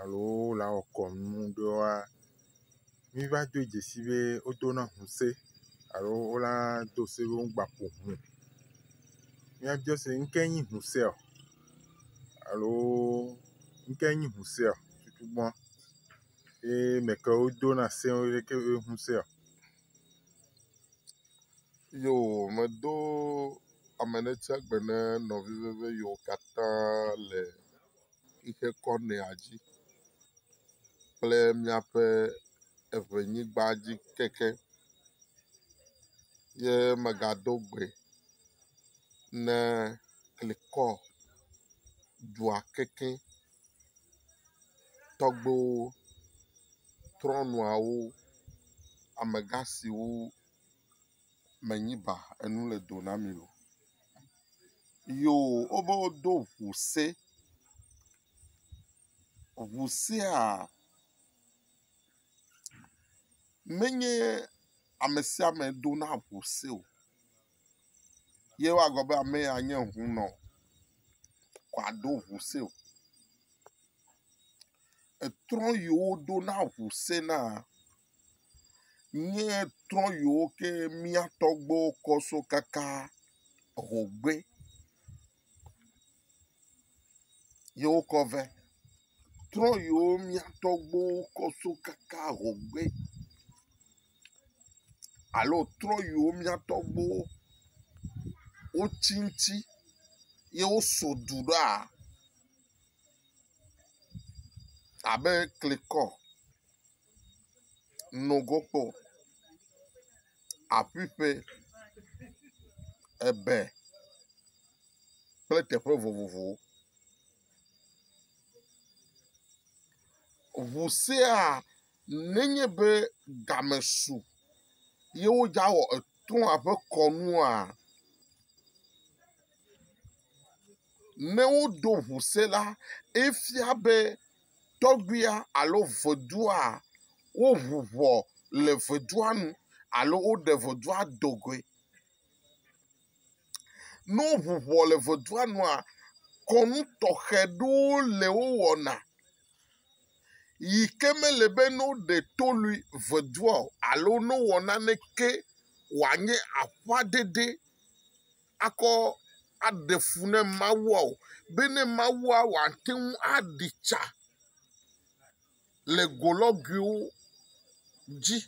alo wole awɔ kɔnu ɖe woa, míva do dzesi be wodo na ŋu se alo wola do se be wogba ƒo ŋu. Míabiɔ se be, ŋke nyi ŋu seɔ? Alo ŋke nyi ŋu seɔ? Tutugbɔ. Ye me kewo do na se wo ɖe ke be ŋu seɔ? Yo me do ame ɖe tsia gbe ne nɔvi ɖe be yewo katã le. xixe kɔ nɛa dzi kple míaƒe eŋenyigba dzi keke ye megado gbe ne klikɔ dua kekeɛ tɔgbewo, trɔ̃nuawo, amegã siwo. menyi ba enu le do na mi o. Yoo, wobe wodo ŋu se. Ŋu sea menye ame sia ame do na ŋu se o. Ye wa gblɔ be ame ya nye hunɔ wòado ŋu se o. Etrɔ yi woɖo na ŋu sena nye trɔ yiwo ke mía tɔgbuiwo kɔ so kaka ŋugbe ye wokɔ vɛ. Trɔ yiwo mía tɔgbuiwo kɔ so kaka ŋugbe alo trɔ yiwo mía tɔgbuiwo wotsi ŋuti ye woso du ɖoa. abe klikɔ, nogokpo, aƒiƒe, ebe kple teƒe vovovowo. Ŋu sia nenye be game su ye wodzaa awɔ etoa ƒe kɔnua, ne woɖo ŋu se la, efia be tɔgbuia alo vodua woŋu ŋɔ le vodua nu alo woɖe vodua do goe. Ne woŋu ŋɔ le vodua nua, kɔnu tɔxɛ ɖewo le wowɔna yi ke mele be ne woɖe to lui vodua o alo ne wowɔ naneke wòanye aƒaɖeɖe. akɔ aɖe fu ne Mawua o, be ne Mawua wòate ŋu aɖi tsa le golɔguiwo dzi.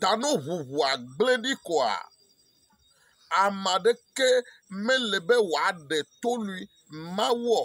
Ta ne ŋuŋua gblẽ ɖi koa, ame aɖeke mele be wòaɖe to lui Mawu o.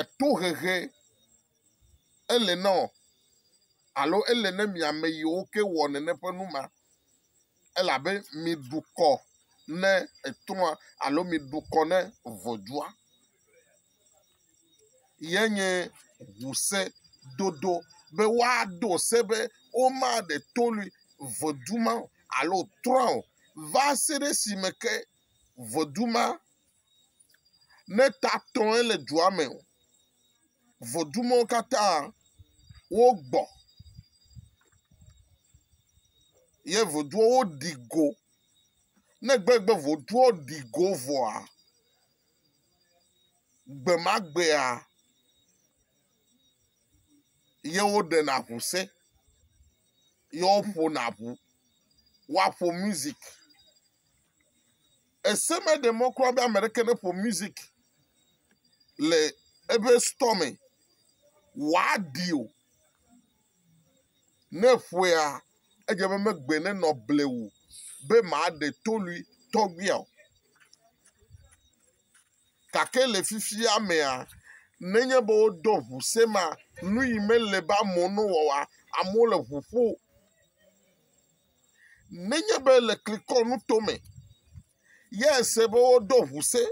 etohehe ele na wò alo ele na mi ame yiwo ke wɔ nene ƒe nu ma. Elabe mi dukɔ ne etrɔa alo mi dukɔ ne ŋɔdzua. Ye nye ŋusẽ dodo be woado se be womaɖe to nui ŋɔdu ma o alo trɔ̃a o va se ɖe esime ke ŋɔdu ma. Ne tatɔe le dua me o, vodumɔwo katã wogbɔ ye voduɔ woɖi go. Ne gbe gbe voduɔ ɖi go vɔa, gbe ma gbea ye woɖena ŋu se ye woƒona ŋu. Woaƒo mizik. Ese meɖe mɔ kura be ame aɖeke neƒo music le eƒe store me wòaɖi o. Ne eƒoea, edze be megbe nenɔ blewu be maɖe to lui tɔgbuia o. Gake le fifia mea, nenye be woɖɔ ŋu se ma, nu yi mele be amewo nowɔa, amewo le ŋu ƒo. Nenye be le klikɔ nuto me ye ese be woɖo ŋu se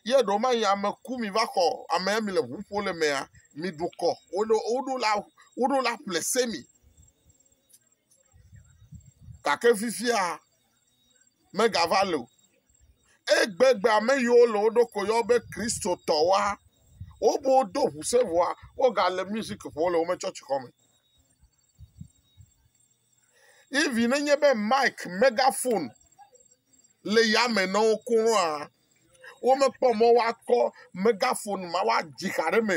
ye ɖewo ma yi ame ku mi va xɔ ame mi le ŋu ƒo le mea, mi ɖu kɔ. Woɖo woɖo la woɖo la ƒle se mi. Gake fifia megava le o. Egbegbe ame yiwo le wo ɖokui yɔ be Kristotɔwoa wobe wodo ŋu se vɔa woga le musiki ƒom le woƒe tsɔtsi xɔ me. Even ne nye be mic, megaphone le yame na wo koa, womekpɔ mɔ woakɔ megaphone ma woadzi xa ɖe eme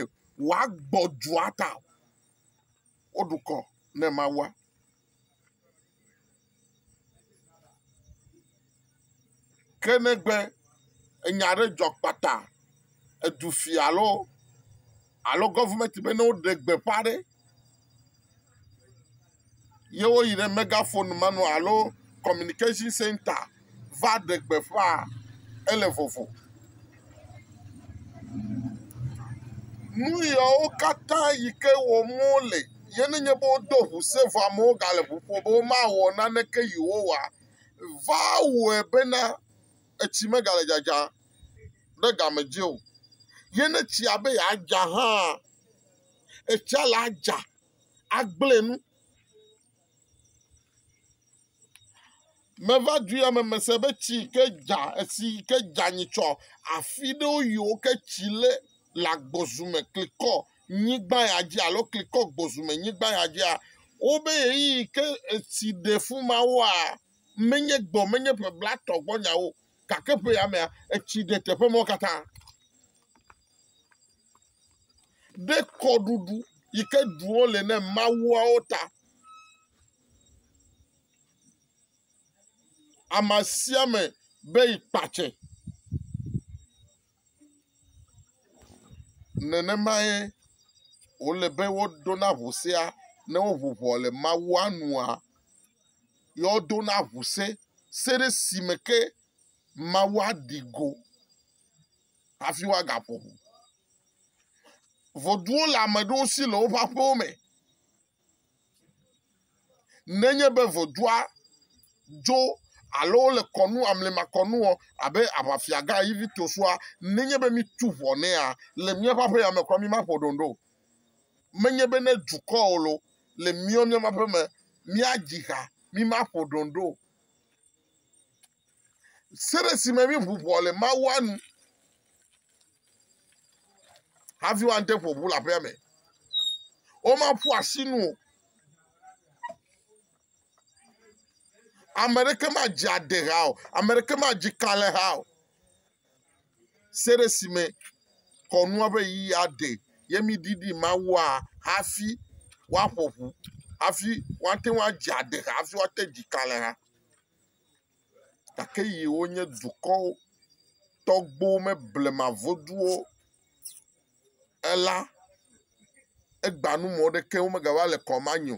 wòagbɔ dua ta o. Woɖu kɔ na Mawua. Ke negbe enya aɖe dzɔ kpata, edu fia alo alo gɔvimɛti be ne woɖe gbeƒã ɖe ye woyi ɖe mɛgafonu me nɔ alo kɔminikatsin sɛnta va ɖe gbeƒã ele vovo. Nu yawo katã yi ke wɔm wole ye ne nye be wodo ŋu se vɔ amewo gale ŋu ƒom be womawɔ naneke Yehowa o. va wɔe bena etsi megale dzadza ɖe game dzi o. Ye ne tsia be yeadza hã, etsia le adza agblẽ nu. Meva du ya me mese be tsi yi ke dza, etsi yi ke dza nyitsɔ afi ɖewo yiwo ke tsi le le agbɔzu me klikɔ nyigba ya dzi alo klikɔ gbɔzume nyigba ya dzia, wobe ɣeyiɣi ke etsi ɖe fi mawoa, menye gbɔ, menye ƒe blatɔ gbɔ nyawo, gake ƒe ya mea, etsi ɖe teƒe mawo katã. Ɖe kɔɖuɖu yi ke ɖuwo le ne mawuawo ta. Ame sia ame be yi kpatse. Nenemae wòle be woɖona ŋu sea ne woŋu ŋɔ le Mawua nua. Ye wodona ŋu se, se ɖe si me ke Mawu aɖi go hafi woagaƒo ŋu. Voduwo le ame aɖewo si le woƒe aƒewo me. Nenye be vodua dzo alo wole kɔnu amlemakɔnu wɔm abe aʋafia gã Egipto sua, nenye be mítu ʋɔ nɛa, le míaƒe aƒe ya me kura mímaƒo ɖoŋɖo o. Menye be ne dukɔ o loo, le míawo míaƒe aƒe me míadzi ha mímaƒo ɖoŋɖo o. Se ɖe si me míʋu ʋɔ le Mawua nu hafi woade ƒo ʋu le aƒea me. Womaƒu asi nu o. Ame ɖeke madzi ade ha o. Ame ɖeke madzi ka le ha o. Se ɖe si me kɔnua ƒe yi aɖe ye míɖiɖi Mawua hafi woaƒo ʋu hafi woate ŋu adzi ade ha hafi woate dzi ka le ha. gake yi wonye dukɔ tɔgbo me blema voduwo ela, egba nu me woɖe ke mega va le kɔma nyo.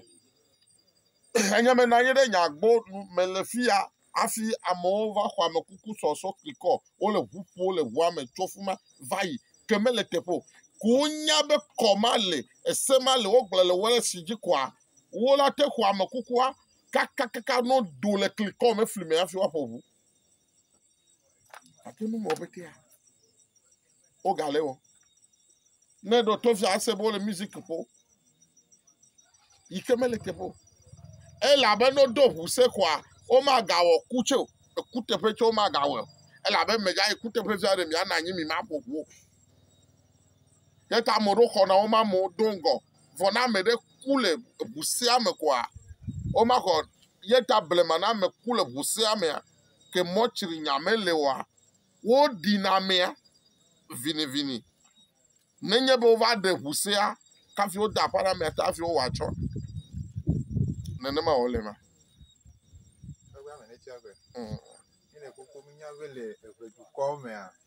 Enye me nanyi ɖe nya gbɔ nu me le fiya afi amewo va xɔ ame kuku sɔsɔ kli kɔ wole ʋu ƒo le ʋua me tso fima va yi ke mele teƒe o. Ko wonya be kɔma le ese ma le wogblɔ le wɔ ɖe si dzi koa wola te xɔ ame kukua kakakaka no do le kli kɔ me fli me hafi woaƒo ʋu. Ate nu wɔ petea. Wogalé wɔ. Ne ɖo to fia ase be wole music ƒo. Yi ke mele teƒe o. Elabe ne wodo ŋu se koa, womagawɔ ku tsɛ o. Ekuteƒe tsɛ womagawɔe o. Elabe medzaa yi kuteƒe fia ɖe miana anyi mi maƒo ʋu o. Ye ta ame ɖewo xɔna wo mamewo do ŋgɔ. vɔ ne ame ɖe ku le ŋu sea me koa, womaxɔ ye ta blema ne ame ku le ŋu sea mea, ke mɔtri nya mele oa, woɖi na amea vinivini. Nenye be wova ɖe ŋu sea kafi wode aƒa na amea ta hafi wowɔ atsɔ. Nenema wòle ma. Eŋe ame ne tsia gbe. Mm. Míle koko mínya be le eŋe dukɔ mea.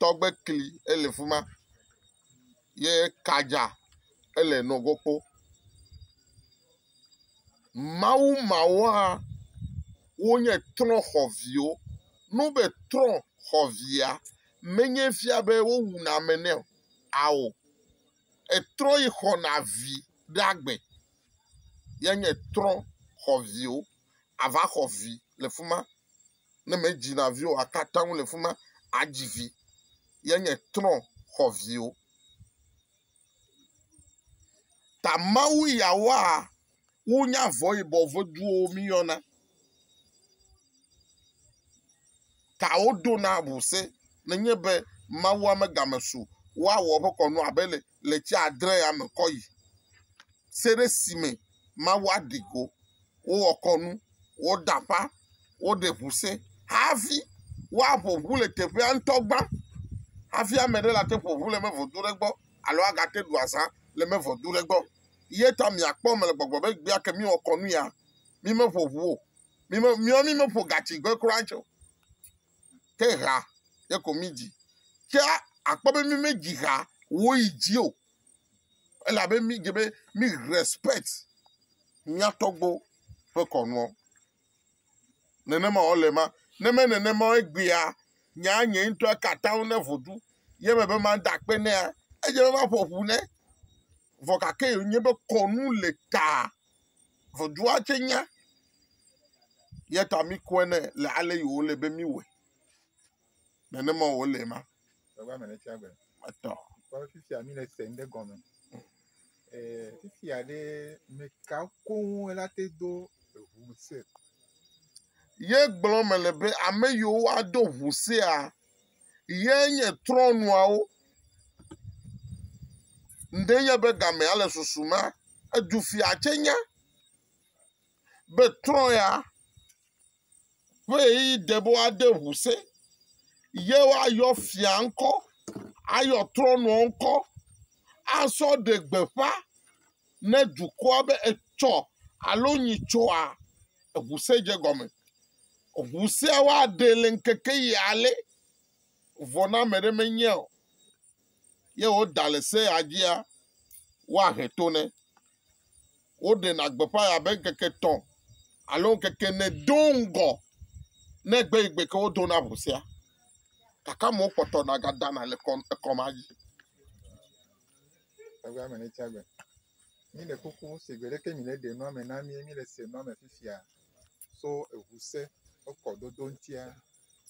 tɔgbe kli ele fi ma ye ka dza ele nɔgɔɔ kpɔ. Mawu mawo hã wonye trɔ̃xɔviwo. Ne wogbe trɔ̃xɔvia, menye fia be wowuna ame nɛ o, ao, etrɔ yi xɔna vi ɖe agbe ye nye trɔ̃xɔviwo. Ava xɔ vi le fi ma. Ne medzi na viwo aka atam le fi ma adzi vi ye nye trɔ xɔ viwo. Ta Mawu ya wa wonya vɔ yibɔ veduwo miyɔna. Ta wodo na wose nenye be Mawu ame game so woawɔ woƒe kɔnu abe le le tsi adre ya me kɔ yi. Se ɖe si me Mawu aɖi go. wowɔ kɔnu, woda aƒa, woɖe ŋu se hafi woaƒo ŋu le teƒea ŋutɔ gbã hafi ame aɖe ate ŋu aƒo ŋu le eme ŋu do ɖe egbɔ alo agate ŋu aɖu azã le eme ŋu do ɖe egbɔ. Ye ta mìakpɔ eme le gbɔgblɔm be egbea ke míwɔ kɔnu ya, mímeƒo ŋu o, míme, míawo mímeƒo gatsigbe kura tsɛ o. Ke hea ye ko mídzi. Ke akpɔ be mímedzi hea wòyi dzi o. elabe mídze be mí respɛkt mía tɔgbuiwo ƒe kɔnuɔ. Nenema wòle ema. Ne me nenema o egbea, nye anye ŋutɔe aka atam ne vodu ye me be mada akpe nɛa, edze be maƒo ƒu nɛ. Vɔ gake wònye be kɔnu le ta vodua tsɛ nya. Eya ta míkɔe nɛ le ale yi wòle be míwɔe. Nenema wòle ema. Gbegba me le tsia gbe. Etɔ. Kpɔ fi sia mi le se ŋɖe gɔme. Ee, fi sia ɖe mekawo koŋ ela te do eŋu se. Ye gblɔ mele be ame yiwo woado ŋu sea ye nye trɔnuawo. Ŋɖe nye be gamea le susu ma. Edu fia tse nya be trɔ ya. Ƒe ɣeyiɣi de be woade ŋu se ye woayɔ fia ŋkɔ, ayɔ trɔ̃nua ŋkɔ asɔ ɖe gbeƒã ne dukɔa be etsɔ alo nyitsɔa eŋu se dze gɔme. Ŋu sea woaɖee le ŋkeke ɣi ale vɔ ne ame aɖe menyia o. ye woda le sea dzia, woahe to nɛ. Woɖena gbeƒãe abe ŋkeke etɔ̃ alo ŋkeke ene do ŋgɔ ne gbe yi gbe ke wodo na ʋu sea. Gake amewo kpɔtɔna gadana le kɔ ekɔma dzi. Míle kpukpɔ be sigbe leke míleɖe nua me na mí míle se nua me fifia so eŋu se ƒe kɔdodo ŋutia.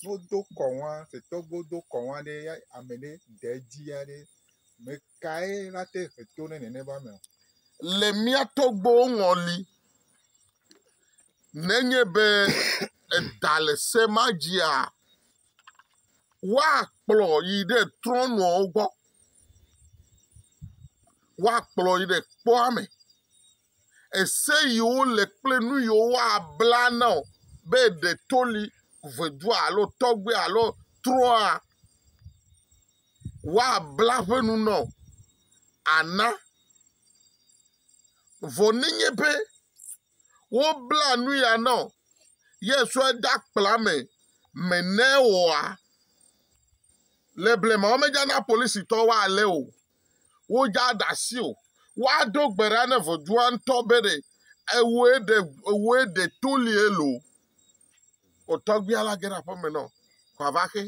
Ne wodo kɔ nua tetɔ be wodo kɔ nua ɖe ya ame ɖe de edzi ya ɖe me kae nate he to ne nene be ame o. Le mía tɔgbuiwo ŋɔli, nenye be eɖa le se ma dzia, Woakplɔ yi ɖe trɔ̃nuawo gbɔ. Woakplɔ yi ɖe kpɔa me. Ese yiwo le kple nu yiwo woabla na wò be ɖe to li ʋedua alo tɔgbui alo trɔ̃a, woabla eƒe nu na wò ana. Vɔ nenye be Wobla nu ya nɔ ye sɔe de akpla me me ne ewɔa. Le blema womedza na polisitɔ woalé o. Wodza ɖasi o. Woado gbe ɖa ne vodua ŋutɔ be ɖe ewoe ɖe ewoe ɖe to lie lo. Otɔgbia la ge ɖe aƒeme nɔ kɔava xe.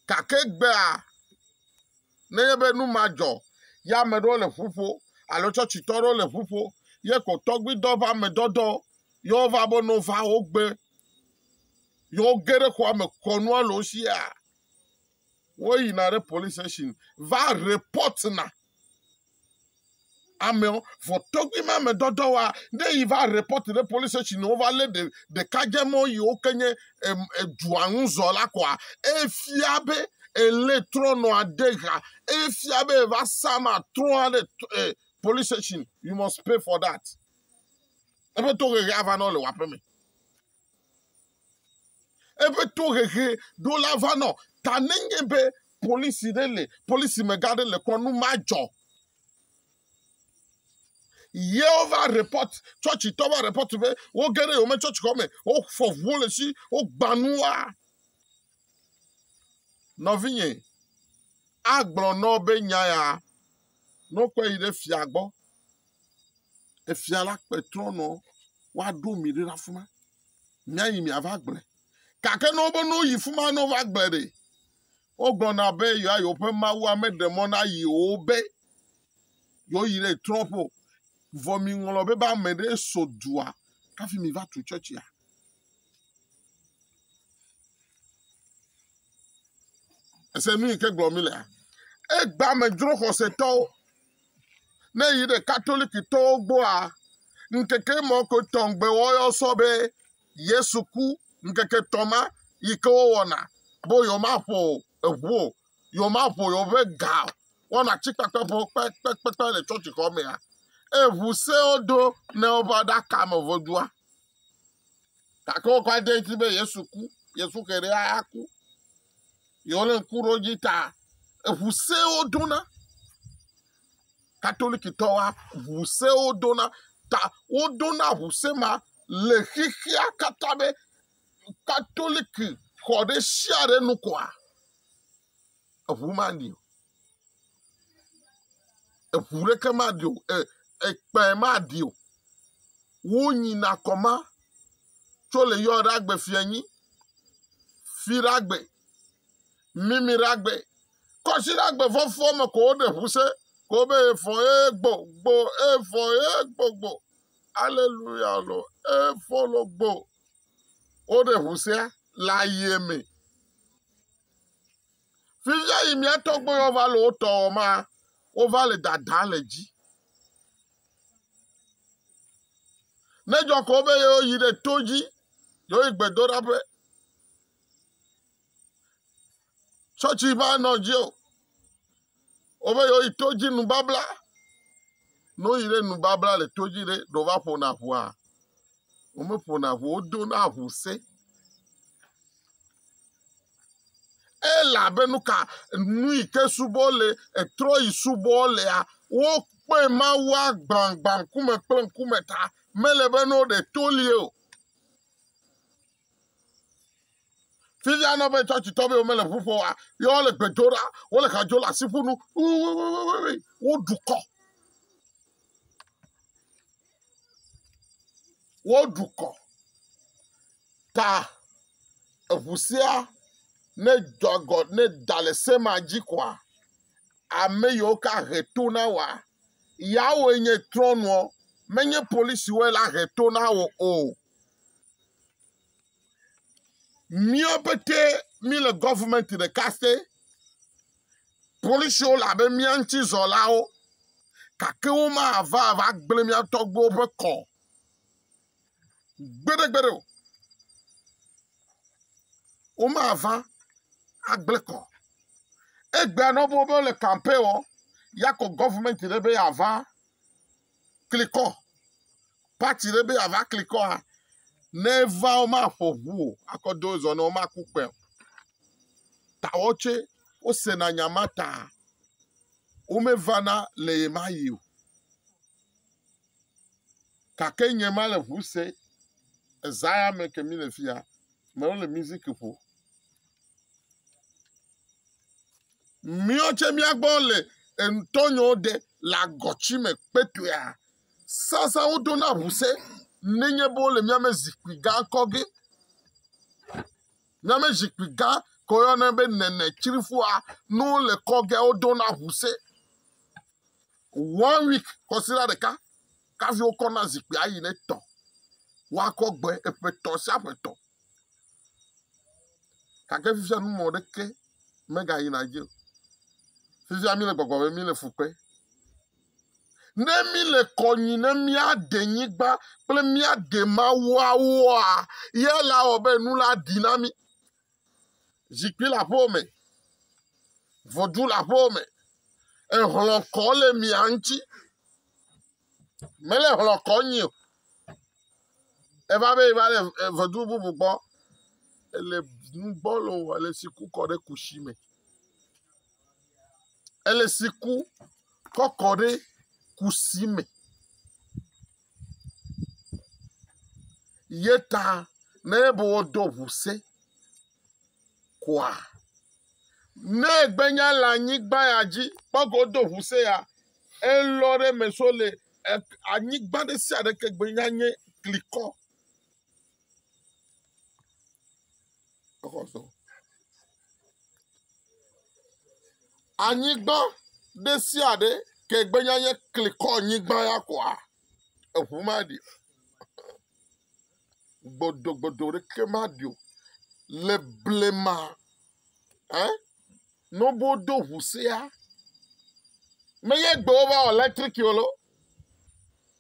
Gake egbea, nenye be nu ma dzɔ, ye ame ɖewo le ƒu ƒo, alo tsɔtsitɔ ɖewo le ƒu ƒo, ye ko tɔgbuidɔ va ame dɔdɔ, ye wova be no va wo gbe, ye woge ɖe xɔa me kɔ nua le wo sia, woyina ɖe police station va report na amewo vɔ tɔgbi ma me dɔdɔ wa ne yi va report ɖe police station wo va le ɖeka dze mɔ yi wo ke nye edua ŋu zɔ la kɔa efia be ele trɔnɔ ade ga efia be va sama trɔ aɖe eh, police station you must pay for that ebe to ɣeɣe ava nɔ le waƒe me eƒe tohehe ɖo la va nɔ ta nenye be polisi ɖe le polisi mega ɖe le kɔnu ma dzɔ yewo va report chɔchi tɔ va report be wo ge ɖe yome chɔchi xɔ me wo fɔ ʋuwo le si wo gbanua nɔvinye agblɔ nɔ be nya ya Ne wokpe yi ɖe fia gbɔ, efia la kpe trɔnɔ woaɖo mi ɖe afi ma. Míayi miava gblɔe. Gake ne wobe ne woyi fi ma ne wova gblɔe ɖe, wogblɔna be yewoa yewoƒe mawua meɖe mɔ na yewo be yewoyi ɖe trɔ̃ƒe o. Vɔ miŋlɔ be be ame ɖee so dua hafi miva tu tsɔtsia. ese nu yi ke gblɔ mi lea egba me dzro xɔsetɔwo ne yi ɖe katolikitɔwo gbɔa ŋkeke mɔ ko tɔŋgbe wɔyɔ sɔ be yesu ku ŋkeke tɔ ma yi ke wowɔna be yewomaƒo eʋu o yewomaƒo yewoƒe ga o wɔna tsikpakpe ƒo kpekpekpe le tsɔtsixɔ mea eʋu sewo do ne wova ɖaka me vodua Gake wokɔ ade ŋuti be Yesu ku, Yesu xe ɖe aku. Yewole ŋku ɖe dzi ta eŋu sewo dona. Katolikitɔwo ŋu sewo dona ta wodona ŋu se ma le xexea katã be katoliki xɔ ɖe sia ɖe nu kɔa? eŋu mali o, eŋu ɖeke mali o, ekpẽ mali o, wonyina kɔ ma tso le yɔ ɖe agbe fia nyi, fi ɖe agbe, mimi ɖe agbe, kɔsi ɖe agbe fɔfɔ me ko woɖe ŋu se ko be efɔ ye gbo gbo efɔ ye gbo gbo aleluya lo efɔ lo gbo woɖe ŋu sea le aye me. Fifia yi mía tɔgbe yewo va le wo tɔ wɔm ma, wova le dada le dzi. Ne dzɔ ko be yewo yi ɖe to dzi, yewo yi gbedoɖaƒe. Tsɔtsi va nɔ dzi o. Wove yewo yi to dzi nubabla. Ne woyi ɖe nubabla le to dzi ɖe, ɖe wova ƒona ŋua? Womeƒona ŋu, wodona ŋu se. Elabe nu ka nu yi ke subɔ le etrɔ yi subɔ lea, wokpe Mawua gbagbã ŋkume kple ŋkume ta. Mele be ne woɖe to li o. Fifia ana be tsɔtsitɔwo womele ʋu ƒo wa, ye wole gbe do ɖa, wole ha dzo le asi ƒu nu, woɖu kɔ. Woɖu kɔ. Ta eŋu sia ne dzɔ agɔ ne da le se ma dzi koa, ame yiwo ke ahe to na woa, yeawoe nye trɔ̃nuɔ, menye polisiwoe la he to na wo o. Mía pete míle gɔvimɛnti ɖeka te. Polisiwo le abe mía ŋuti zɔlawo gake womava va gblẽ mía tɔgbuiwo ƒe kɔ gbeɖegbeɖe o. Womava agblẽ kɔ. Egbea nɔ be wole kampe wɔ ya kɔ gɔvimɛnti ɖe be yeava klikɔ pati ɖe be yeava klikɔa, ne eva womaƒo ŋu o akɔ do zɔ na wo womaku kpɛ o. Ta wɔtsɛ wosena nya ma ta womevana le ye ma yi o. Gake nye ma le ŋu se ezaya me ke mi le fia mewo le music ƒo. Míɔ tsɛ míagbɔ le ŋutɔnyɔ ɖe le agɔtsi me kpɛtɔea, sasa woɖo na ŋu se nenye be wole míame zikpui gã kɔ ge. Míame zikpui gã ke woyɔna be nenetrifua, ne wole kɔ ge woɖo na ŋu se. One week kɔsira ɖeka kafi wokɔ na zikpui ayi ne tɔ woakɔ gbe eƒetɔ sia ƒetɔ gake fifia nu mɔ ɖeke megayi na dzi fifia mi le gbɔgbɔ be mi le fukpe ne mi le kɔnyi ne mia de nyigba kple mia de mawuawoa ye la wɔ be nu la ɖi na mi Zikpui le aƒewo me. Vodzu le aƒewo me. Ehlɔ̃ kɔ le mia ŋuti. Mele hlɔ̃ kɔ nyi o. Eva be eva le vodzu bubu gbɔ. Ele nu gbɔ le wò ele tsi ku kɔ ɖe kusi me. Ele tsi ku kɔ kɔ ɖe kusi me. yeta ne be wodo ʋuse koa ne gbenya le anyigba ya dzi kpɔgo wodo ʋuse ya elɔ ɖe me so le anyigba ɖesiaɖe ke gbe nya nye klikɔ Anyigba ɖe sia ɖe ke gbe nye anyi klikɔ anyigba ya koa, eŋu maɖi o. Gbɔdɔgbɔdɔ ɖeke maɖi o le blema ɛ. nobo do ʋu sea me ye gbewo va wɔ lɛtriki o lo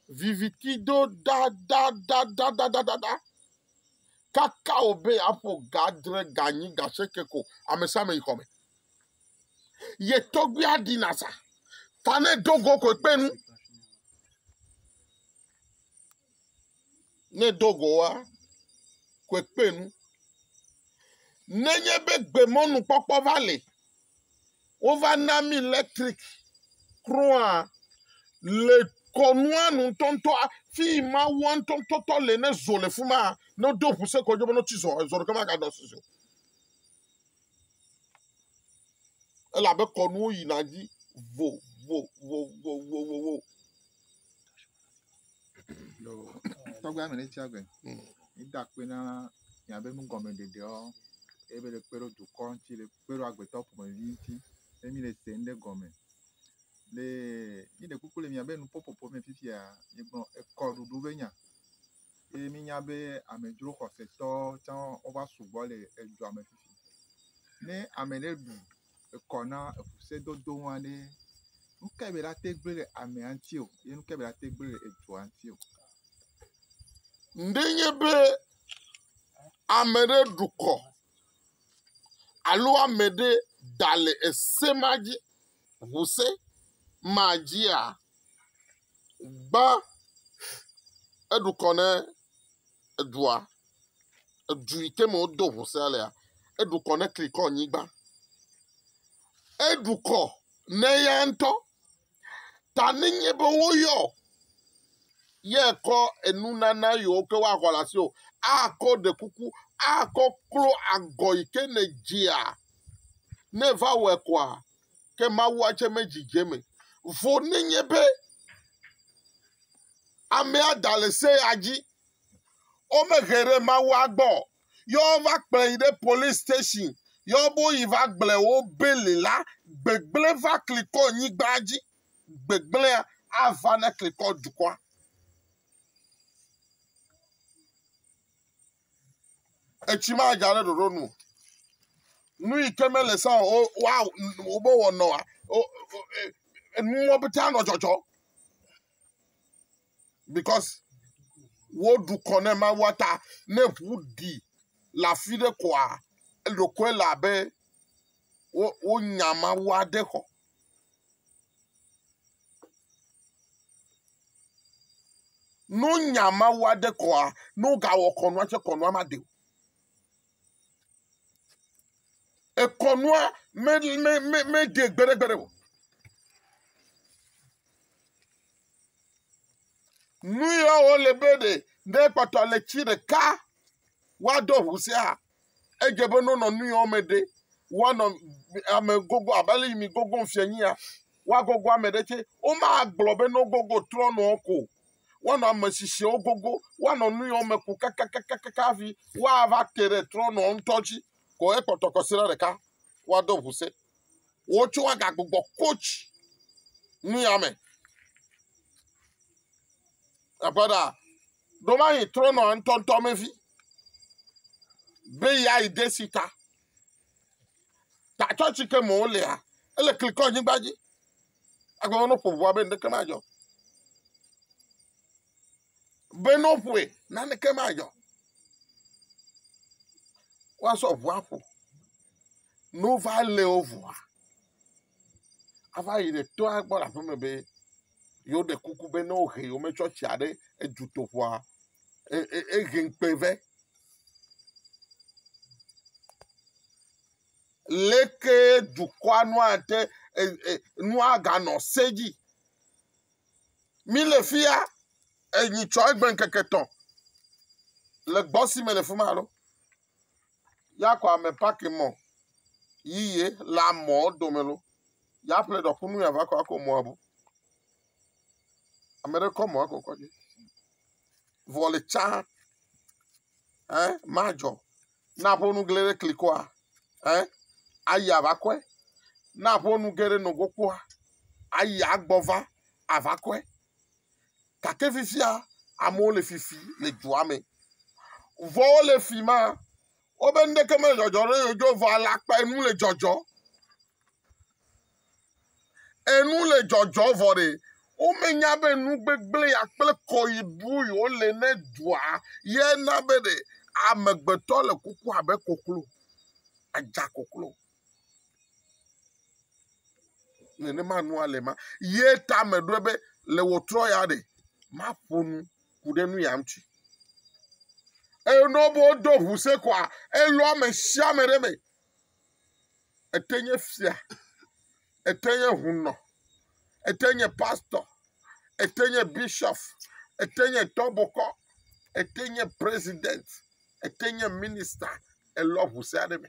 viviti do dadadadadadada kaka wò be yeaƒo ga adre ga enyi ga asieke ko amesiame yi xɔme ye tɔgbuia ɖina sa ta ne do go koe kpe nu ne do go wa, koe kpe nu. Nenye be gbemɔnukpɔkpɔ va li, wova na mi elektrik kura le kɔnua nu ŋutɔŋutɔ fi yi Mawua ŋutɔŋutɔ le ne zo le fi ma ne wodo ŋu se kɔ dzi be ne wotsi zɔ zɔ ɖeke maganɔ asi o. Elabe kɔnuwo yina dzi vovovovovovo. Lo, tɔgbe ame ɖe tsi agbe. Eda akpe na miabe nugɔmeɖeɖeɔ, eye be le kpe ɖo dukɔ ŋuti, le kpe ɖo agbetɔ ƒomevi ŋuti, be mi le se ŋɖe gɔme. Le mi ɖe kuku le miabe nuƒoƒoƒo me fifia, migblɔ ekɔɖuɖu be nya. Eye mi nya be amedzro xɔsetɔ tsã wova sugbɔ le edua me fifi. Ne ame ɖe ɖu ekɔ na eŋusedodo ŋua ɖe, nu kae be yeate ŋu gblɔ ɖe amea ŋuti o ye nu kae be yeate ŋu gblɔ ɖe edua ŋuti o. Ne enye be ame ɖe ɖu kɔ alo ame ɖe da le ese ma dzi, ŋuse ma dzia, gbã eɖu kɔ ne edua, edu yi ke me wodo ŋu sea lea, eɖu kɔ ne Krikɔnyigba. Eɖu kɔ ne eya ŋutɔ ta nenye be woyɔ ye kɔ enunana yiwo ke woaxɔ le asiwò akɔ ɖe kuku akɔ klo agɔ yi ke nèdzia ne eva wɔe kɔa, ke mawua tsɛ medzi dze eme vɔ nenye be amea da le se ya dzi. Womehe ɖe mawua gbɔ ye wova kplɔe yi ɖe polisi station ye wobe woyi va gblɔe wo beli la, gbegblẽ va klikɔ nyigba dzi. Gbegblẽa ava ne klikɔ dukɔa. etsi madza ɖe ɖoɖo nu nu yi ke mele sa o wa wobe wɔnɔ wa enuwo pete anɔ dzɔdzɔ because woɖu kɔ ne ma wa ta ne ʋu ɖi le afi ɖe koa eɖokoe le abe wo wonya ma wa ɖe xɔ Ne wonya Mawu aɖe kɔa, ne wogawɔ kɔnua tsɛ kɔnua maɖe o. Ekɔnua me me me meɖe gbeɖegbeɖe o. Nu ya wole be ɖe ne ekpɔtɔ le tsi ɖeka woaɖɔ ŋu sia Edze be ne wonɔ nu yɔ me ɖe, woanɔ ame gogo abe ale yi mi gogom fiẽ nyia, woagogo ame ɖe tsɛ. Womagblɔ be ne wogogo trɔ̃nɔ ko o. Woanɔ ame tsitsiowo gogo. Woanɔ nu yɔ me ko kakakakaka hafi woava te ɖe trɔ̃nɔ ŋutɔ dzi ko ekpɔtɔ kɔsiɖa ɖeka woado ŋu se. Wo tsɛ woagagbugbɔ coach nu ya me. Aƒe ɖaa, Ɖomahi trɔnɔa ŋutɔŋutɔ me vi be ya yi de si ta. Ta tsɔtsi ke mɔ wolea, ele klikɔ nyigba dzi. Agbawo no ƒoʋua be ŋɖeke madzɔ. Be no ƒoe, naneke madzɔ. Woasɔ ʋua ƒo. No va leo ʋua. ava yi ɖe tɔa gbɔ le aƒeme be yewoɖe kuku be ne wohe yewometsɔ tsia ɖe dutoƒoa e e ehe ŋukpe vɛ. Leke dukɔa nu ate e e nua ganɔ se edzi. Mi le fi ya enyi tsɔ egbe ŋkeke etɔ̃ le gbɔ si me le fi ma lɔ. Y'a kɔ amɛ paki mɔ yi ye le amɔ domɛ lo, y'a ƒle ɖɔ kunu y'a va kɔ ako mɔa bu. Amɛɖe kɔ mɔa kɔkɔ dzi. Vɔ le tsã ɛ ma dzɔ. Ne a ƒonu gle ɖe kli kɔa ɛ ayi a va kɔɛ. Ne a ƒonu ge ɖe nogo kpoa ayi a gbɔ va a va kɔɛ. Gake fifia amewo le fifi le dua me. Vɔ wole fi ma, wobe nuɖeke mele dzɔdzɔ ɖe yewo dzi o, vɔ alakpa enu le dzɔdzɔ. Enu le dzɔdzɔ vɔ ɖe womenya be nu gbegblẽ ya kple kɔyibu yewo le ne dua ye na be ɖe amegbetɔ le kuku abe koklo, adza koklo. nenema nua le ma ye ta me ɖo be le wòtrɔ ya ɖe maƒo nu ku ɖe nu ya ŋuti eye ne wobe wodo ʋu se koa elɔ ame sia ame ɖe me ete nye fia ete nye hunɔ ete nye pastor ete nye bishop ete nye tɔbokɔ ete nye president ete nye minister elɔ ʋu se aɖe me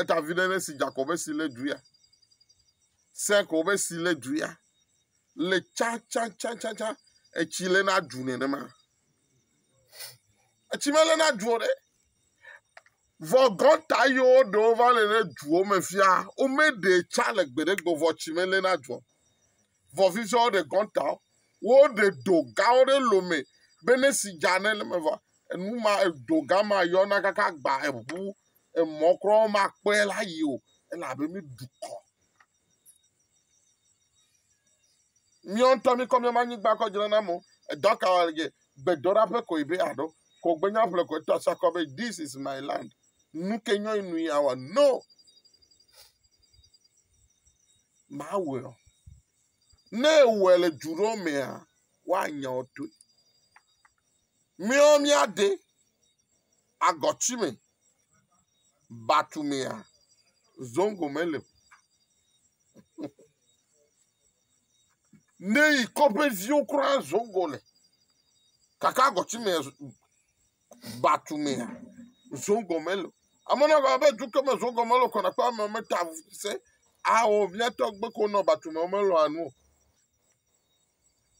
Eta vi ɖe esi dza kɔ be si le dua. Se kɔ be si le dua le tsantsantsantsa etsi le na du nenema. Etsi mele na du o ɖe. Vɔ gɔta yiwo ɖewo va le ɖe duwo me fia womeɖe tsa le gbeɖe gbɔ vɔ tsi mele na du o. vɔ vivia wo ɖe gɔnta wo ɖe do ga wo ɖe lome be ne si dza ne le me vɔ enu ma edo ga ma yɔna kaka gba eŋu emɔ kura ma kpɔe la yi o elabe mi dukɔ miɔ ŋutɔ mi kɔ miama nyigba kɔ dzra na mo edɔ ka wa ge gbedora ƒe koe be aɖo ko gbenya ƒle koe to asa kɔ be this is my land nu ke nyɔ inu ya wa no Maa wɔe o. Ne ewɔe le du ɖewo mea, woanya wo toe. Míawo míaɖe agɔti me, batu mea, zongo meli o. Ne yi kɔƒeviwo kura zongo le gake agɔti mea. batu mea zogɔme lo ame na gɔme be duke me zogɔme lo kɔna kpe ame meta se ao miatɔ gbe ko nɔ batu me me lo anu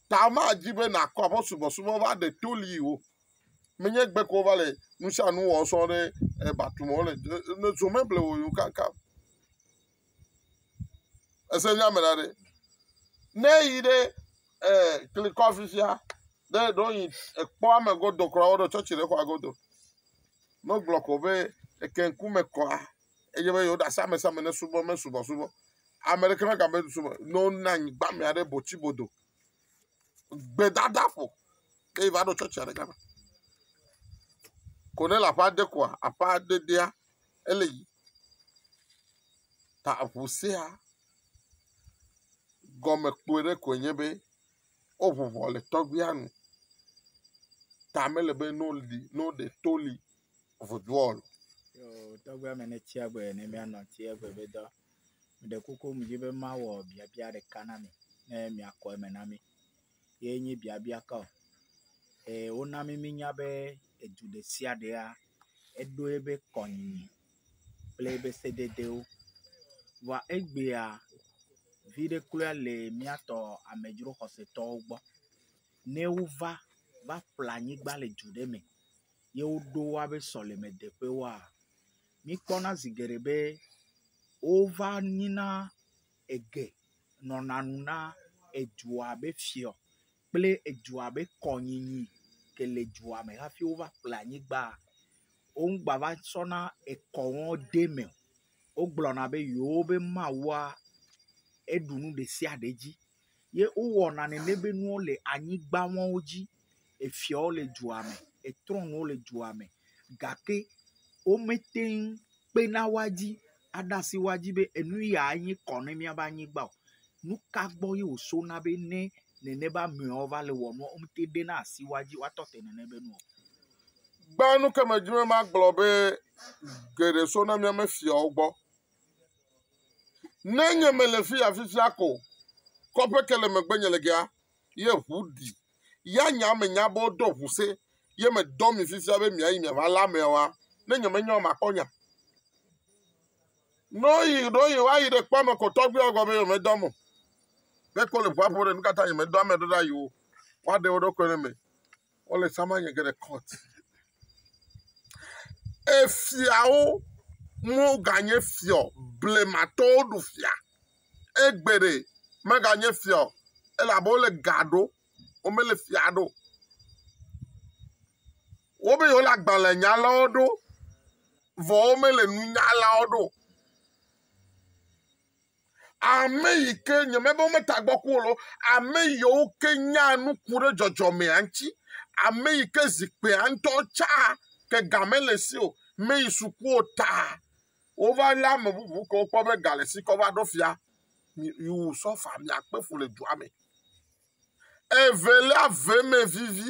ta ma dzi be na kɔ aƒe subɔsubɔ va ɖe to li o me nye gbe ko va le nusa nu wɔ sɔ ɖe batu me o le ne zome ble o yo kaka Ese nya me la ɖe. Ne yi ɖe eh, klikɔ afi sia, ɖe ɖo yi ekpɔ ame godo kura woɖo tsɔtsi ɖe xɔa godo. Ne gblɔ ko be eke ŋkume kɔa, eye be yewoɖe asi amesiame ne subɔ me subɔ subɔ. Ame ɖeke me gabe subɔ, ne wona anyigba me aɖe botsi bodo. Gbedada ƒo. Ke yi va ɖo tsɔtsi aɖe gama. Ko ne le aƒea de koa, aƒea dedea, Ele yi ta ŋu sea gɔme kplɔe ɖe koe nye be woŋu ŋɔ le tɔgbuia nu ta mele be ne woɖi ne woɖe to li vodua o. Yoo, tɔgbe ame ne tsia gbe ne mianɔ tsia gbe be dɔ. Meɖe kuku medi be mawɔ biabia ɖeka na mi ne miakɔ eme na mi. ye nye biabia ka o. Ee, wona mí míenya be edu ɖe sia ɖea, eɖo eƒe kɔnyinyi kple eƒe sededewo. Vɔa egbea, viɖe kloe le mía tɔ amedzro xɔsetɔwo gbɔ. Ne wova va ƒle anyigba le du ɖe me ye woɖo woaƒe sɔlemeteƒewoa, míkpɔna zi geɖe be wova nyina. Ege nɔna nu na edua be fiɔ kple edua be kɔnyinyi ke le dua me hafi wova ƒle anyigba. Wo ŋgba va tsɔna ekɔwo de eme o. Wogblɔna be yewo be mawua eɖu nu ɖe sia ɖe dzi ye wowɔna nene be nuwo le anyigba mawo dzi. Efiawo le dua me, etrɔnuwo le dua me gake womete ŋu kpena wo dzi aɖe asi wo dzi be enu yae nye kɔ na míaƒe anyigba o. Nu ka gbɔ ye wosɔna be ne nene be amewo va le wɔm nua, womete ŋu ɖena asi wo dzi woatɔ te nene be nua o? Gbea nu ke medi be magblɔ be geɖe sɔna míaƒe fiawo gbɔ. Ne nye mele fi ya fifia ko, kɔƒe ke le megbenye le gea, ye ŋu ɖi. Ya nya ame nya be woɖo ŋu se ye medɔ mi fifia be miayi miava lé ameawoa? Ne nyemenyae o makpɔ nya. Ne woyi ɖo yi woayi ɖe kpɔ ame ko tɔgbuiawo gbɔ be yewomedɔm o. Ne ko le ŋua ƒom ɖe, nu ka ta nyemedɔ ame ɖo ɖa yi wo woaɖe wo ɖokui ɖe me? Wole tsã manye ge ɖe kɔt. Efiawo woganye fiɔ blematɔwo ɖu fia. Egbe ɖe meganye fiɔ elabe wole ga ɖo. Womele fia ɖo. Wobe yewole agbalẽ nyalawo ɖo vɔ womele nunyalawo ɖo. Ame yi ke nye me be wometa gbɔ ku o, ame yiwo ke nya nu ku ɖe dzɔdzɔmea ŋuti, ame yi ke zikpuia ŋutɔ tsa ke ga mele esi o, meyi suku o ta wova lé ame bubu ke wokpɔ be ga le esi kɔ va ɖo fia. You will suffer, miakpe fu le dua me. Evelia, vemevivi.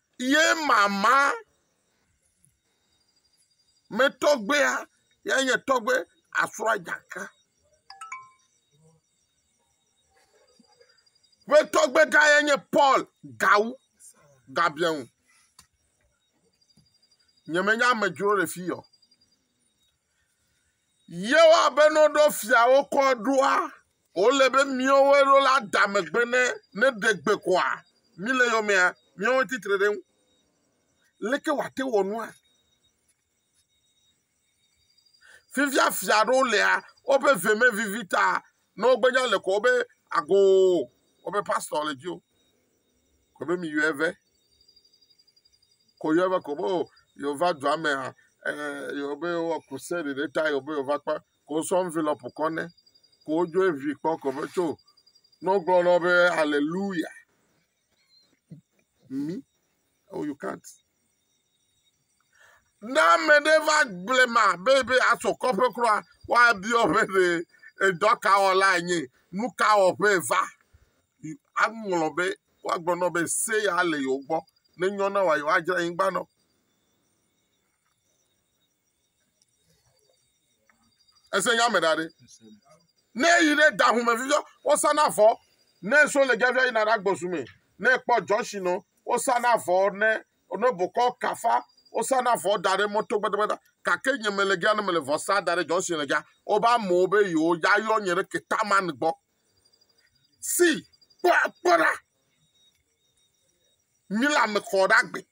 Ye mama me tɔgbea ya nye tɔgbe asrɔ̃ dzaka. Ƒe tɔgbe gã ya nye Paul Gawu Gabiɛŋu. Nyemenya amedzro le fi yɔ. Yewa be ne woɖo fiawo kɔ ɖoa, wole be míwo woe ɖo la da megbe ne ne ɖe gbe koa, mí le yɔmea, míawo titre ɖe ŋu. Leke wòate wɔ nua? Fifia fia ɖewo lea, woƒe ve me vivi ta Ne wogbe nya le ko wobe ago wobe pastor le dzi o. Ko be mi yɔe ve. Ko yɔe ve ko be o yewo va dua me ha eh yewo be yewo wɔ crusade ɖe ta yewo be yewo va kpe ko sɔ envelope kɔ ne ko wodzo evi kpɔ ko be tso ne wogblɔ na wo be hallelujah. mi oh you can't ne ame ɖe va gblẽ ma be be asɔ kɔƒe kura woabiɔ ƒe be edɔ ka wɔla enye nu ka wɔƒe va aŋlɔ be woagblɔ nɔ be se ya le yewo gbɔ ne nyɔ na wa yewoadzra anyigba nɔ Ese nya me da ɖi. Ne yi ɖe da ŋu me viviɔ, wosa na vɔ. Ne so le gavia yina ɖe agbɔsu me. Ne kpɔ jɔnshi nɔ, wosa na vɔ ne ne bokɔ kafa, wosa na vɔ da ɖe mɔto gbadagbada. Gake nye me le gea ne me le vɔ sa da ɖe jɔnshi le gea, woba mɔ be yewo ya yɔ nye ɖe ketaman gbɔ. Si kpɔ kpɔ ɖa. Mi la me kɔ ɖa gbe.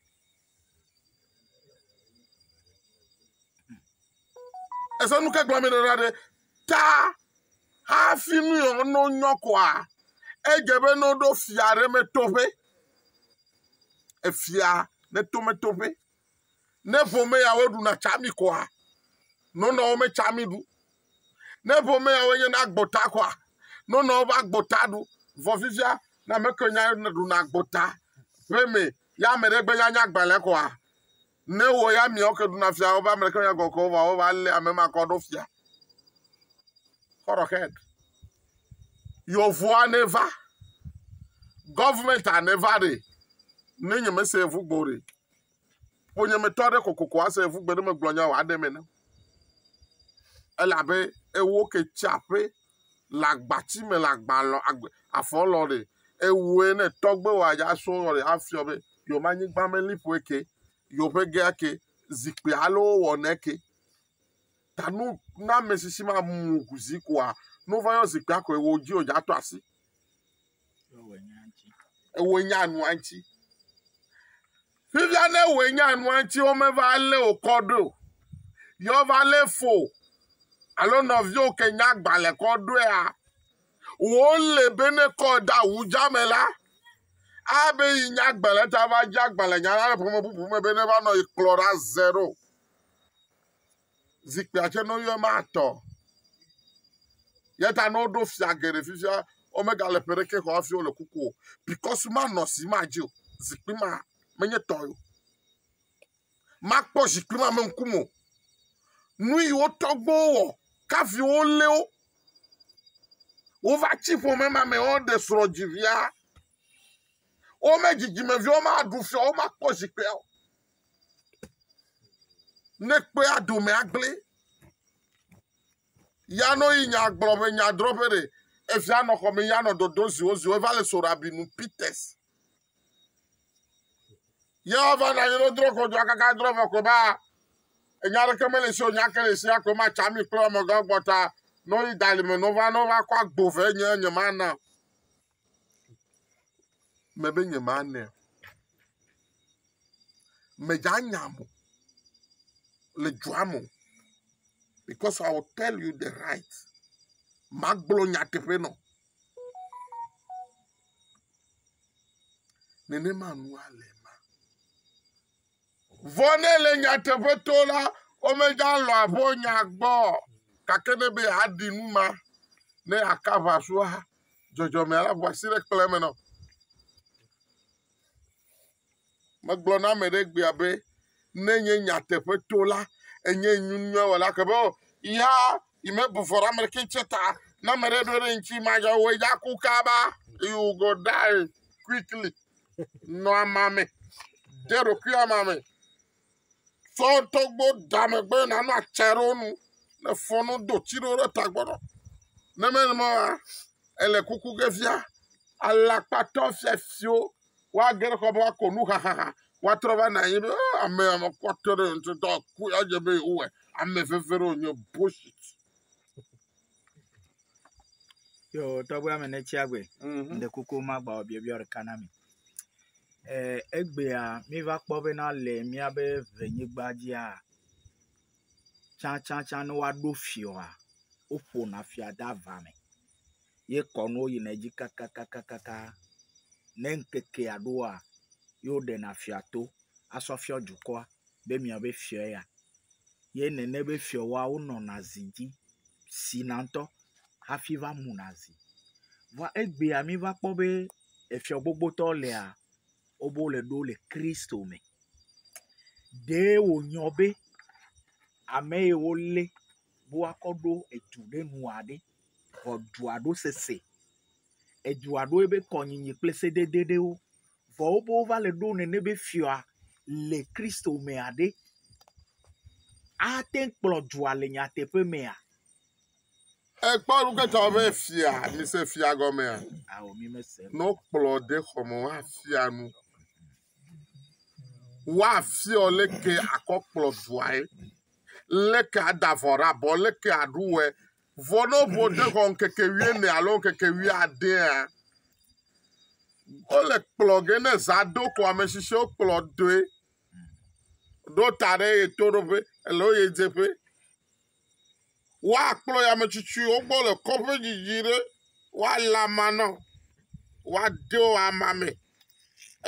Èse nu ke gblɔm mele la ɖe? Ta hafi nu yewo no nyɔ koa, edze be no ɖo fia ɖe me toƒe. Efia ne to me toƒe. Ne ƒome ya wo ɖuna tsami koa, nɔnɔwo me tsami ɖu. Ne ƒomeawo nye na agbota kɔa, nonɔ woƒe agbota ɖu. Vɔ fifia, ne ame kewo nya ɖuna agbota ƒe me ya ame ɖe gbe nyanya gbalẽ kɔa, ne wò ya miawo ke ɖuna fia woƒe ame ɖeke nya gɔkɔ vɔa wova lé ame ma kɔ ɖo fia. Kɔrɔxɛd. Yɔvoa ne va. Gɔvmɛnta ne va ɖe. Ne nyemese evu gbɔ ɖe. ƒonyemetɔ aɖe kokoko ase yevu gbeɖemegblɔnya o aɖem ene. Ele abe ewo ke tsi aƒe le agbati me le agba lɔ agbe afɔ lɔ ɖe ewoe ne tɔgbe wa ya so lɔ ɖe afiɔ be yewo ma anyigba me liƒoe ke yewoƒe gea ke zikpui alo wowɔ ne ke. ta nu na ame si si ma mu ku zi koa nu va yɔ zikpui akɔe wo dzi o dza to asi ewe nya nu anti fifia ne ewe nya nu anti wo me va le o kɔ do yɔ va le fo alo nɔvio ke nya gbalẽ kɔ doa wo le be ne kɔ da wu dza me la abe yi nya gbalẽ ta va dza gbalẽ nya la le ƒome bubu me be ne va nɔ yi kplɔ ɖa zero zikpuia tsɛ nɔnyi eme atɔ eyata ne woɖo fia geɖe fifia womega le ƒe ɖeke xɔ hafi wole kuku o bikɔs manɔ si madzi o zikpui ma menye tɔ ye o makpɔ zikpui ma me ŋkume o nu yi wo tɔgbuiwo wɔ kafi wolé wo wova tsi ƒome ma me woɖe srɔ̃ dzi via wome dzidzimeviwo maɖu fia o womakpɔ zikpuia o ne kpe aɖome agblẽ ya no yi nya gblɔ ƒe nya drɔ ƒe ɖe efia nɔ xɔme ya nɔ dodo ziwo ziwo eva le so rabi nu peters ya va na yelo drɔ ko do akaka drɔ va ko ba enya ɖeke mele si o nya ke le si akɔ ma tsa mi kple amegã gbɔta no yi dalime no va no va kɔ agbo ve nye nye ma na me be nye ma nɛ. Me dza nya mo le dua mo because I will tell you the right. Ma gblɔ nya teƒe nɔ. Nenema nua le. Vɔ ne le nyateƒe to la, womeda lɔ abo nya gbɔ gake ne be aɖi nu ma ne aka aʋa sua dzɔdzɔmea la ʋua si ɖe kplɔe me nɔ. Megblɔ na ame ɖe gbea be ne nye nyateƒe to la, enye nyunyɔ wɔla ke be o ya yi me bu vɔ ɖe ame ɖeke tse ta na ame ɖe ɖo ɖe ŋuti ma ya wo ya ku kaba you go die quickly. Nɔ ama me. De ɖokui ama me. Tsɔ tɔgbo da megbe nanɔ atsa ɖe wo nu. Ne fɔ no do tsi ɖe wo ɖe tagbɔ nɔ. Ne mele ma wa, ele kuku ge fia. Alakpatɔ fia fio. Wa ge ɖe kɔ be wa ko nu hahaha. Wa trɔ va na anyi be oh, ame ame kɔtɔ ɖe ntɔ tɔ ku ya je be o wɛ. Ame veve ɖe o nye bullshit. Yo tɔgbe ame ne tsia gbe. Ŋde mhm. koko ma gba biabia ɖeka na mi. Eh, egbea mi va kpɔ be na le miabe ʋenyigba dzia tsantsantsã ne woaɖo fiɔa, woƒona fia de ava me ye kɔnuwo yina edzi kakakakaka. Ne ŋkekea ɖoa, ye woɖena fia to asɔ fiɔ dukɔa be miabe fiɔ ya. ye nene be fiɔwoawo nɔna zi dzi, sina ŋutɔ hafi va muna zi. Vɔa egbea míva kpɔ be efiɔ gbogbotɔ lea, wobe wole ɖo le Kristo me. Ɖee wònyɔ be ame ye wolé be woakɔ ɖo edu ɖe nua ɖe, vɔ dua ɖo sesẽ. Edua ɖo ebe kɔnyinyi kple sedede ɖewo. Vɔ wobe wova le ɖo nɛnɛ be fiɔa le Kristo mea ɖe, ate kplɔ dua le nyateƒe mea? Ekpɔ nukpetɔ be fia, mise fia gɔmea? Ao, mi mese. Nɔ kplɔ de xɔme woafia nu. Woafiɔ leke akɔ kplɔ duae, leke adavɔ ɖe abɔ, leke aɖu wɛ, Vɔ ne woŋu wo de xɔ ŋkeke wuiene alo ŋkeke wuiadea, wole kplɔ ge ne zã do ko ame tsitsiwo kplɔ doe. Ɖo ta ɖe ye toɖoƒe alo ɣedzeƒe. Woakplɔ yi ame tsitsiwo gbɔ le kɔƒe didi ɖe woalé ama na wo. Woade wo ama me.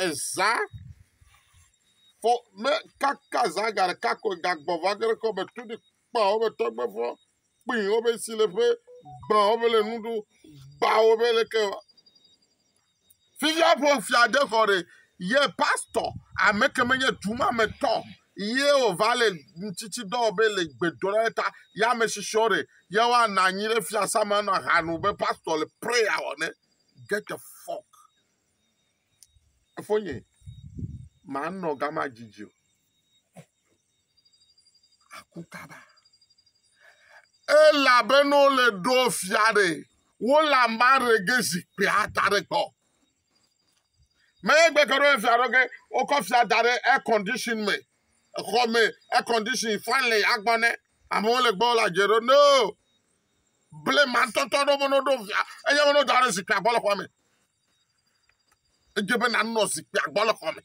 Ezã fɔ me kaka zã ga ɖeka koe gagbɔ va ge ɖe kɔme tu ɖi. kpa woƒe tɔgbefɔ kpi woƒe sileƒe gbã woƒe le nu ɖu gbã woƒe leke wa fifia ƒo fia de kɔ ɖe ye pastor ame ke menye duma me tɔ ye o va le ŋtsitsi dɔ be le gbedɔ ɖe ta ya me shishiɔ ɖe ya wa na nyi ɖe fia sama na hanu be pastor le prayer wɔ ne get the fuck Fofonye, manɔ gama didi o. Aku kaba. Elabena wole ɖo fia ɖe, wole ame aɖe ge zikpuia da ɖe gbɔ. Menye gbeke ɖo fia ɖo ge, wokɔ fia da ɖe air condition me. Exɔ me, air condition, fan le agbɔ ne. Amewo le gbɔ la dze ɖo. No. Ble mantɔtɔ ɖo meno ɖo fia. Enye meno da ɖe zikpuia gbɔ le xɔa me. Edze be nanɔ zikpuia gbɔ le xɔme.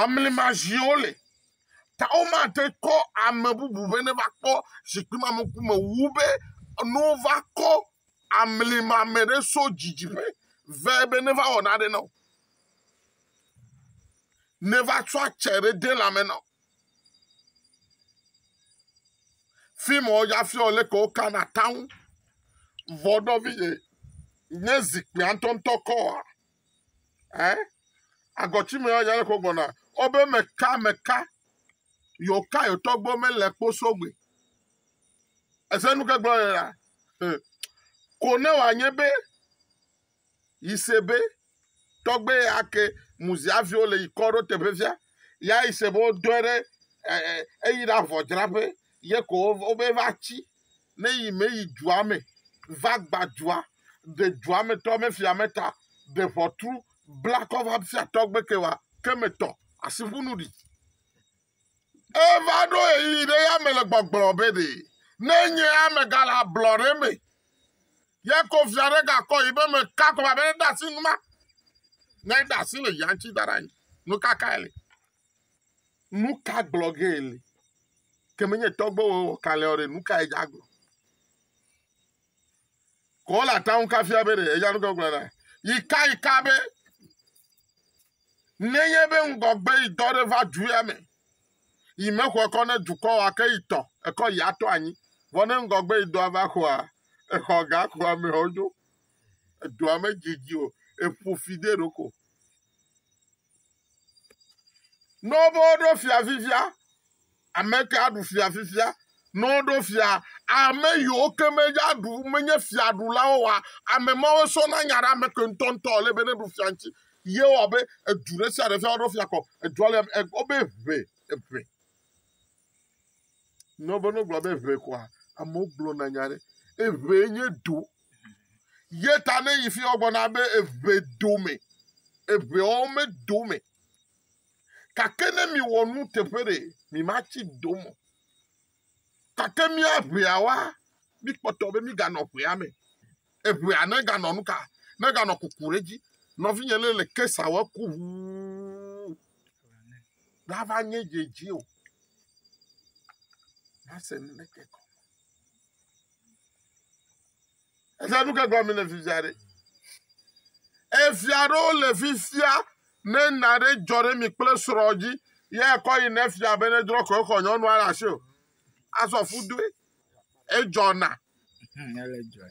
Amlima ziwo le. Ta womate kɔ ame bubu be neva kpɔ zikpui ma me ŋkume wu be ne wova kɔ amlima me ɖe so dzidziƒe ve be neva wɔ naɖe na wo. Neva tsɔ atse ɖe de lãme na wo. Fi ma wodza fiɔ leke wokana taŋu. Vɔ nɔvi ye nye zikpuia ŋtɔŋtɔ kɔa? Ɛ? Agɔtsi me ya nya leke wogbɔna. Wobe meka meka yewoka yewo tɔgbuiwo mele kposo gbe. Ese nu ke gblɔ le la. Ko ne wòanye be yi se be tɔgbe ya ke muzia viwo le yi kɔ ɖo teƒe via ya yi se be wodɔe ɖe eyi ɖe avɔdzraƒe ye ko wobe va tsi ne yi me yi dua me va gba dua de dua me tɔ me fia me ta de ʋɔtru bla kɔ va fia tɔgbe ke wa ke me tɔ asiƒunu ɖi Eva ɖo ɣeyiɣi ɖe ya me le gbɔgblɔ be ɖe nenye amegã le ablɔɖe me ya ko fia ɖe gakɔ yi be meka kɔ be ɖe asi numa. Ne ɖe asi le ya ŋuti da ɖe anyi. Nu ka kae le? Nu ka gblɔ ge le? Ke menye tɔgbewo wɔ kalẽɔ ɖe, nu kae dza gblɔ? Ko wole atam kafia be ɖe eya ŋutɔ gblɔ na. Yi ka yi ka be nenye be ŋgɔgbe yi dɔ ɖe va dua me, yi mexɔ ekɔ ne dukɔ wa ke yi tɔ, ekɔ yi atɔ anyi. Vɔ ne ŋgɔgbe yi dɔa va xɔa, exɔ ga xɔ amewo dzo. Edua me dzidzi o, eƒo fi de ɖoko. Ne wobe woɖo fia fifia, ame ke aɖu fia fifia. Ne woɖo fia, ame yiwo ke medze aɖu menye fiaɖulawo wa ame mawo sɔna nya ɖe ame ke ŋutɔŋutɔ le be neɖu fia ŋuti. Ye wɔ be edu ɖe sia ɖe fia woɖo fia kɔ edua le e, wobe ʋe eʋe. Ne wobe ne wogblɔ be ʋe kɔa, amewo gblɔna nya ɖe eʋe nye du Ye ta ne yi fi wo gblɔ na be eʋe do me, eʋe wo me do me. Kake ne mi wɔ nu teƒe ɖe mi ma tsi do mo. Kake mi aʋea wa mi kpɔtɔ be mi ga nɔ ʋea me. Eʋea ne ga nɔ nuka? Ne ga nɔ kuku ɖe dzi. Nɔvi nye le le kesa wɔ ku ʋuu. Lava nye dze dzi o. Nase nu ɖe ke kɔ. Efia nu ke gblɔm mi le fifia ɖe. Efia ɖewo le fifia ne na ɖe dzɔ ɖe mi kple srɔ̃ dzi ye ekɔ yi ne fia be ne drɔ ko exɔ nyɔnua ɖe asi o. Azɔ fu doe. Edzɔna. Ele dzɔ.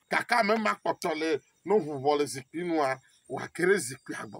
Kaka me ma kpɔtɔ le no ʋuvɔ le zikpui nua wa kere zikpui agbɔ.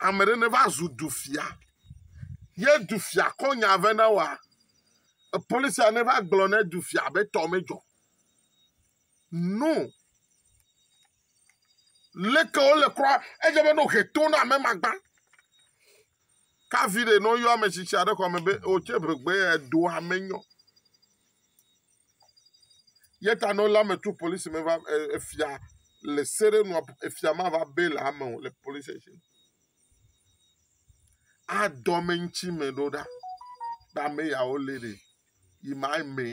Ame ɖe ne va zu du fia, ye du fia kɔ nya ve na wa, polisia ne va gblɔ ne du fia be tɔ me dzɔ. No. Leke wo le kura, edze be no he to na me magba. Kavi ɖe no yɔ ame tsitsi aɖe xɔ me be o tse ʋegbe ya do ame nyɔ. Yeta nɔ la me tu polisi me va efia le sere nua efia ma va be le ame o le polisi station. A dɔme ŋuti me ɖo ɖa. Ba me ya wo le ɖe. Yi ma me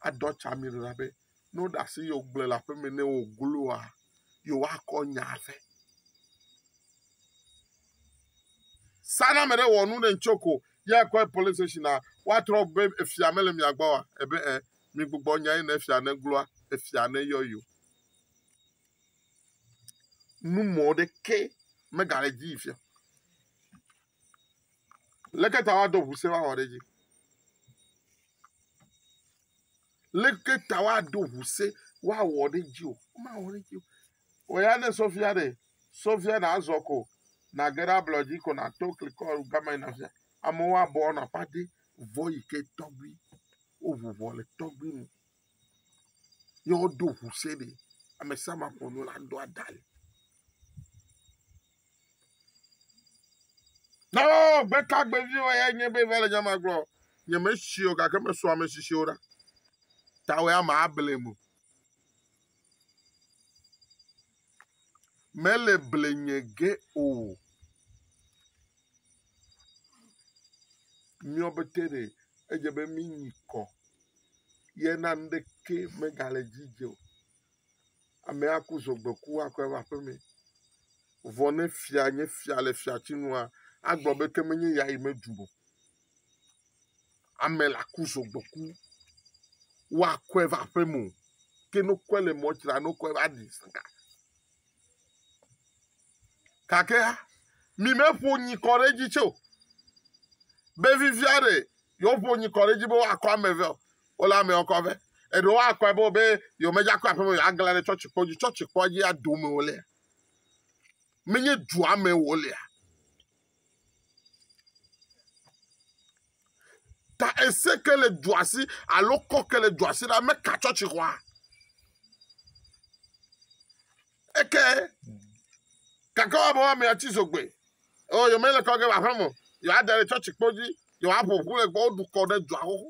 a dɔ tsa mi ɖo ɖa be Ne woɖe asi ye wògblẽ le aƒe me nɛ wògloa, ye woakɔ nya vɛ. Sa ne ame ɖe wɔ nu ɖe ŋutsɔ ko, ye akɔe polisi station a, woatrɔ be efia mele mia gbɔ wa? Ebe ɛ, migbugbɔ nya ye ne efia ne gloa, efia ne yɔ yi o. Nu mɔ ɖeke megale dzi yi fia. Leke ta woadɔ ŋusẽ woawɔ ɖe edzi? Leke ta woaɖo ŋusẽ woawɔ ɖe edzi o? Womawɔ ɖe edzi o. Wò ya ne sɔfia ɖe, sɔfia nàzɔ ko nàge ɖe ablɔ dzi ko nàto klikɔ gama yina afia. Amewo abɔ nɔ aƒa de vɔ yi ke tɔgbi woŋu ŋɔ le tɔgbi nu ye woɖo ŋusẽ ɖe. Amesiame aƒo nu la ɖo adale. Na wo gbe tagbeviwo ya nye be va le nya ma gblɔ. Nye me si o gake me sɔ ame sisiwo ɖa. Ta wɔ ama able mo. Me le ble nye ge o. Miɔ be te ɖe edze be mi nyi kɔ. Ye na nuɖe ke me ga le dzi dze o. Amea ku zɔ gbe ku akɔ eƒe aƒe mee. Vɔ ne fia nye fia le fiati nua, agblɔ be ke menye ya yi medu o. Ame la ku zɔ gbe ku woakɔe va aƒe me o. Ke ne wokɔe le mɔ dzi la, ne wokɔe va ɖi saka. Gake hã, mimeƒo nyikɔ ɖe edzi tse o. Be vivia ɖe yewoƒo nyikɔ ɖe edzi be woakɔ ame eve o. Wole amewo kɔ be eɖewo akɔe be be yewomedze akɔ aƒeme o, yewoaglã ɖe tsɔtsikpɔ dzi. Tsɔtsikpɔ dzia, dome wolea. Menye dua me wolea. ta ese ke le dua si alo kɔ ke le dua si la meka tsɔtsi xɔa eke gake woabe woamea tsi zogbe o oh, yomele kɔ ge le aƒe me yewoada le tsɔtsi kpo dzi yewoaƒo ƒu le gbɔ woɖu kɔ ɖe dua xoxo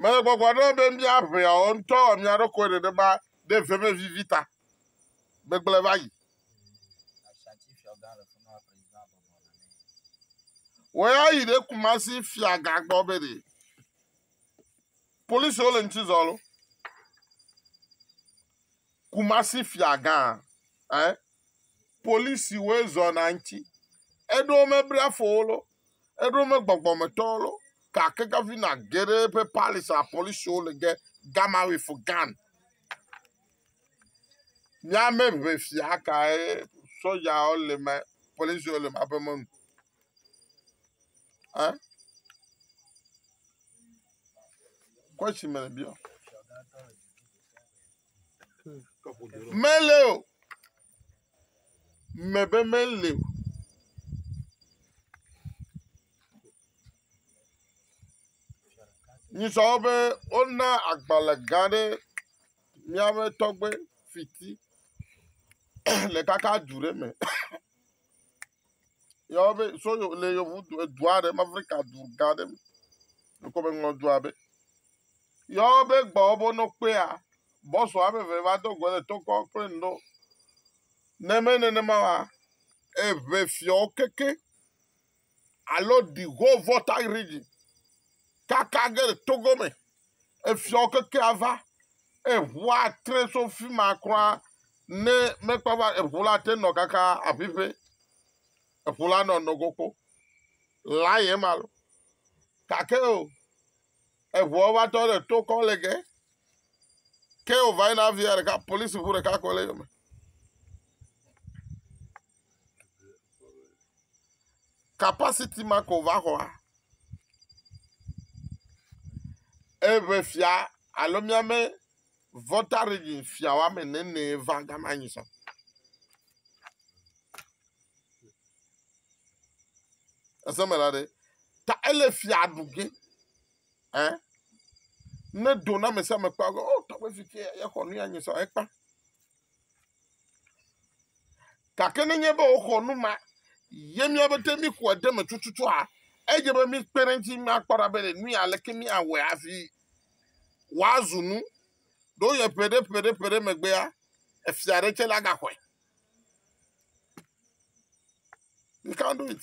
Mele gbɔgblɔ na mi be míaʋea wɔ ŋutɔ wɔ mía ɖokuiwo nenema ɖe veve vivi ta. Gbegblẽ va yi. Woayi ɖe Kumasi fiagã gbɔ be ɖe polisiwo le ŋuti zɔm lo. Kumasi fiagã, eh? Polisiwoe zɔna ŋuti. Eɖewo mebla afɔ wo lo. Eɖo me gbɔgbɔmetɔ lo, gake gɔvina geɖe ƒe palis a polisiwo le ge gama we fo gan. Miame ŋe fia kae sɔjawo le ma polisiwo le ma ƒe mɔnu. Eh? Question me le biɔ. Mele o. Me be mele o. Nyisɔ be wona agbalẽ gã ɖe míaƒe tɔgbe fiti le kaka du ɖe me. yɔve so yo le yovo du edu aɖe me Afrika du gã aɖe me dukɔ me ŋlɔ du abe yɔve gbɔ wobe no kpea bɔsu ame eve va do go le tokɔ kple ŋɖo ne me nenema wa eʋe fiawo keke alo ɖigo vɔta rigi kaka ge le togo me. efiawo keke ava. Eye ŋua tre tso fi ma kura ne mekpɔ va eŋu la te nɔ kaka aƒiƒe. Eŋu la nɔ nogo kpo. La ye ma lo. Gake o, eŋua va tɔ le to kɔ le ge. Ke wòva yina via ɖeka, polisi ŋu ɖeka koe le eyome. Kapasiti ma ko va xɔa. Eŋe fia alo míame Volta Region fia woame ene enee va gama nyi sɔ. Ese me la ɖe, ta ele fia ɖu ge. Ɛ ne do na ame sia ame kpɔ be o tɔgbe fi tse yexɔ nu ya nyi sɔ ekpã. Gake nenye be woxɔ nu ma ye mía be te mixɔe ɖe me tututua, edze be míkpe ɖe eŋuti míakpɔ ɖa be le nui aleke míawɔe hafi wòazu nu. Ɖo yɔ ƒe ɖe ƒe ɖe ƒe ɖe megbea, efia aɖe tsɛ la gaxɔe. You can't do it.